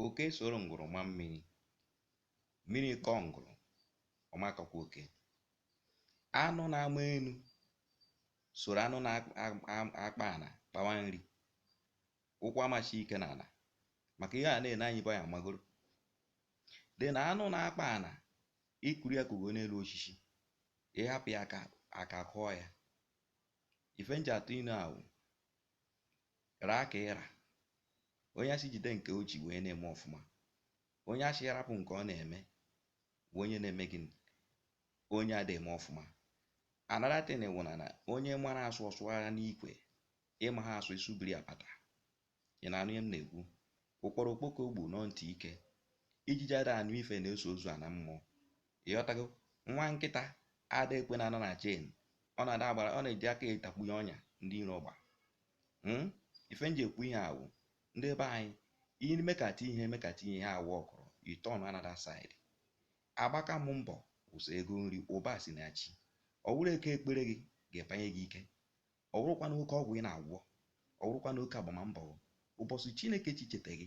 Oke soro ngwụrụ ma mmiri, mmiri kọọ ngwụrụ, ọ ma kọkwa oke. Anụ na-ama enu soro anụ na-akpa ana kpawa nri, ụkwụ ama si ike n'ana maka ihe a na-ene anya bụ ya magoro. Then anụ na-akpa ana i kuru ya kugo n'elu osisi, ị hapụ ya aka kụọ ya. Ife m ji atụ inu ahụ Raa ka ị ra. Onye a sị jide nke o ji wụ onye na-eme ọfụma, onye a sị rapụ nke ọ na-eme wụ onye na-eme gịnị? Onye ada eme ọfụma. Another thing wụ na na onye mara asụ ọ sụara n'ikwe, ị maha asụ ị sụbiri apata. Ị na-anụ ihe m na-ekwu? Ụkpọrọ okpoko gbu nọ ntị ike. Ijiji ada anụ ife na-eso ozu ana mmụọ. Ịghọtago? Nwa nkịta ada ekwe na-anọ na chain. Ọ na-ada agbara, ọ na-eji aka etakpunye ọnya ndị iro gba. Hmm? Ife m ji ekwu ihe a wụ, ndị be anyị, i mekata ihe emekata ihe aworkrọ, i turn another side. Agbakam mbọ wụ sọ ego nri ụba si na chi. Ọ wụrọ oke ekpere gị ga-epanye gị ike. Ọ wụrọkwanụ oke ọgwụ ị na-agwọ, ọ wụrọkwanụ oke agbamambọ gị, ụbọsị Chineke ji cheta gị,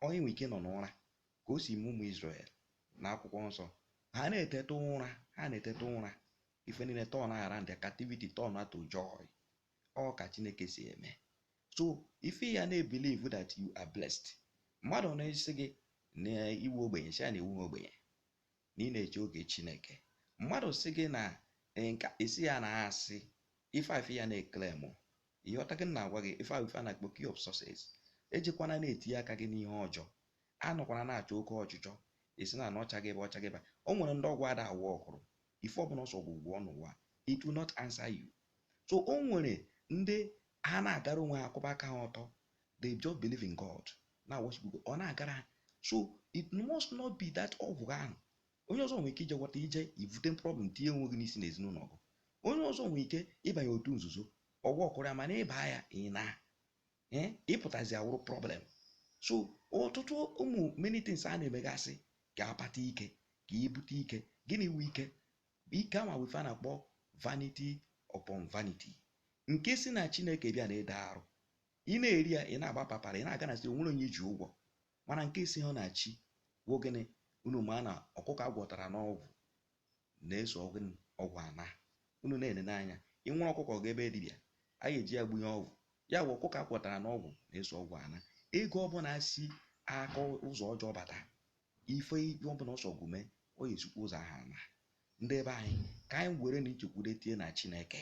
onye nwere ike nọ n'ụra, ka o si mee ụmụ Izrel n'akwụkwọ nsọ. Ha na-eteta ụra, ha na-eteta ụra, ife niile turn around, their captivity turn to joy. Ọ ka Chineke si eme. So ife ị ya na-ebelieve that you are blessed. Mmadụ na-asị gị na ị wụ ogbenye, sị ya na ị wụhọ ogbenye. na ị na-eche oge Chineke mmadụ sị gị na eh, nke a ị sị ya na asị ife ife ị ya na-eclaim ịghọtago ihe m na-agwa gị ife a na-akpọ key of success ejekwana na-etinye aka gị n'ihe ọjọọ anọkwana na-achọ oke ọchịchọ esi na ọcha gị ebe ọcha gị ba o nwere ndị ọgwụ ada aworkụrụ ife ọbụna ọ sọ gị gwọọ n'ụwa it will not answer you so o nwere ndị ha na-agara onwe ha akwụba aka ha ọtọ they just believe in God na worship God ọ na-agara ha so it must not be that ọgwụ ahụ onye ọzọ nwere ike ije gwọta i je ibute problem tinye onwe gị n'isi n'ezinụlọ gị onye ọzọ nwere ike ịbanye otu nzuzo ọ workụrụ ya mana ị baa ya ị na eh, ịpụtazi awụrụ problem so ọtụtụ ụmụ many things a na-emegasị ka akpata ike ka ebute ike gịnị wụ ike ike ama wụ ife a na-akpọ vanity upon vanity nke si na chineke bịa na-ede arụ ị na-eri ya ị na-agba papara ị na-aga na-asị o nwerọ onye i ji ụgwọ mana nke esiha na chi wụ gịnị unu ma na ọkụkọ agwọtara n'ọgwụ na-eso ọgwụ ana unu na-ene n'anya i were ọkụkọ ga ebe dibịa a ga-eji ya gbunye ọgwụ ya bụ ọkụkọ agwọtara n'ọgwụ na-eso ọgwụ ana ego ọbụna si aka ụzọ ọjọọ bata ife ọbụna ọ sọ gị mee ọ ya esikwa ụzọ ahụ ana ndị be anyị ka anyị werenụ nchekwude tie na chineke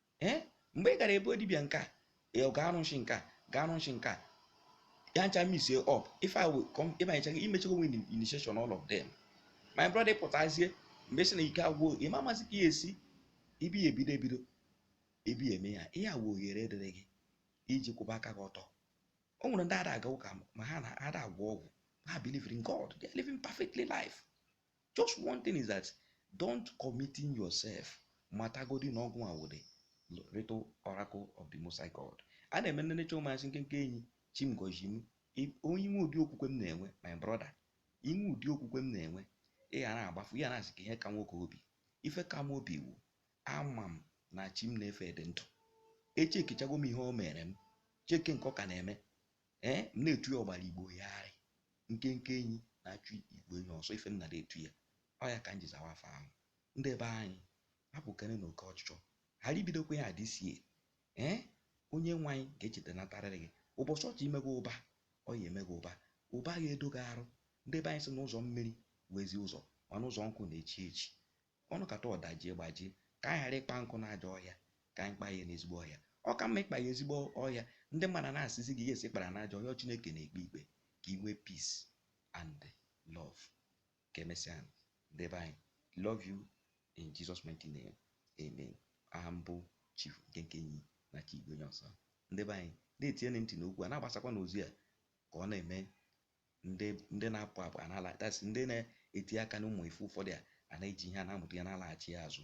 ee mgbe ị gara be dibịa nke a ee, ọ ga-arụ nshi nke a ga-arụ nshi nke a ya ncha misie up ife a will come ịbanyechaghị imechego nwe initiation all of them my brother ị pụtazie mgbe si na ike agwụ ị ma amazị ka ya esi ibi ya ebido ebido ebi ya eme ya ihe a wụ ohere dịrị gị iji kwụba aka gị ọtọ o nwere ndị ada aga ụka ma ha na ada agwọ ọgwụ ha believe in God they are living perfectly life just one thing is that don't committing yourself matagodi na ọgwụ a wụ the little oracle of the Most High God a na-eme nne necha ụmụasị nkenke enyi chi m gọzi m onye i nwee ụdị okwukwe m na-enwe my brother i nwee ụdị okwukwe m na-enwe ị ghara agbafu ya na-asị ka ihe ka nwoke obi ife ka m obi wụ ama m na chi m na-efe dị ndụ echekichago m ihe o mere m cheke nke ọ ka na-eme ee eh, m na-etu ya ọgbara Igbo gharị nkenke enyi na-achụ igwe enyi ọsọ ife m na-etu ya ọ ya ka m ji zawa afa ahụ ndị be anyị hapụkene na oke ọchịchọ ghara ibidokwa ya adịsie ee eh, onye nwe anyị ga-echeta natarịrị gị ụbọchị ọ chọ ime gị ụba ọ ya-eme gị ụba ụba ga-edo gị arụ ndị be anyị sị na ụzọ mmiri wụ ezi ụzọ mana ụzọ nkụ na-echi echi Ọ nọkata ọ dajie gbajie. Ka anyị ghara ịkpa nkụ n'ajọ ọhịa, ka anyị kpaa ya n'ezigbo ọhịa. Ọ ka mma ịkpa ya ezigbo ọhịa, ndị mmadụ ana-asịzi gị yes ị kpara n'ajọ ọhịa, ọ Chineke na-ekpe ikpe ka i nwee peace and love. Ka emesịanụ ndị be anyị. Love you in Jesus mighty name. Amen. Aha m bụ Chief Nkenke Enyi na-achụ igwe enyi ọsọ. Ndị be anyị na-etienụ ntị n'okwu a na-agbasakwa n'ozi a ka ọ na-eme ndị ndị na-apụ apụ ana-ala that's ndị na-eti aka n'ụmụ ife ụfọdụ a ana-eji ihe a na-amụta ihe na-alaghachi azụ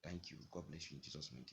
thank you God bless you in Jesus mighty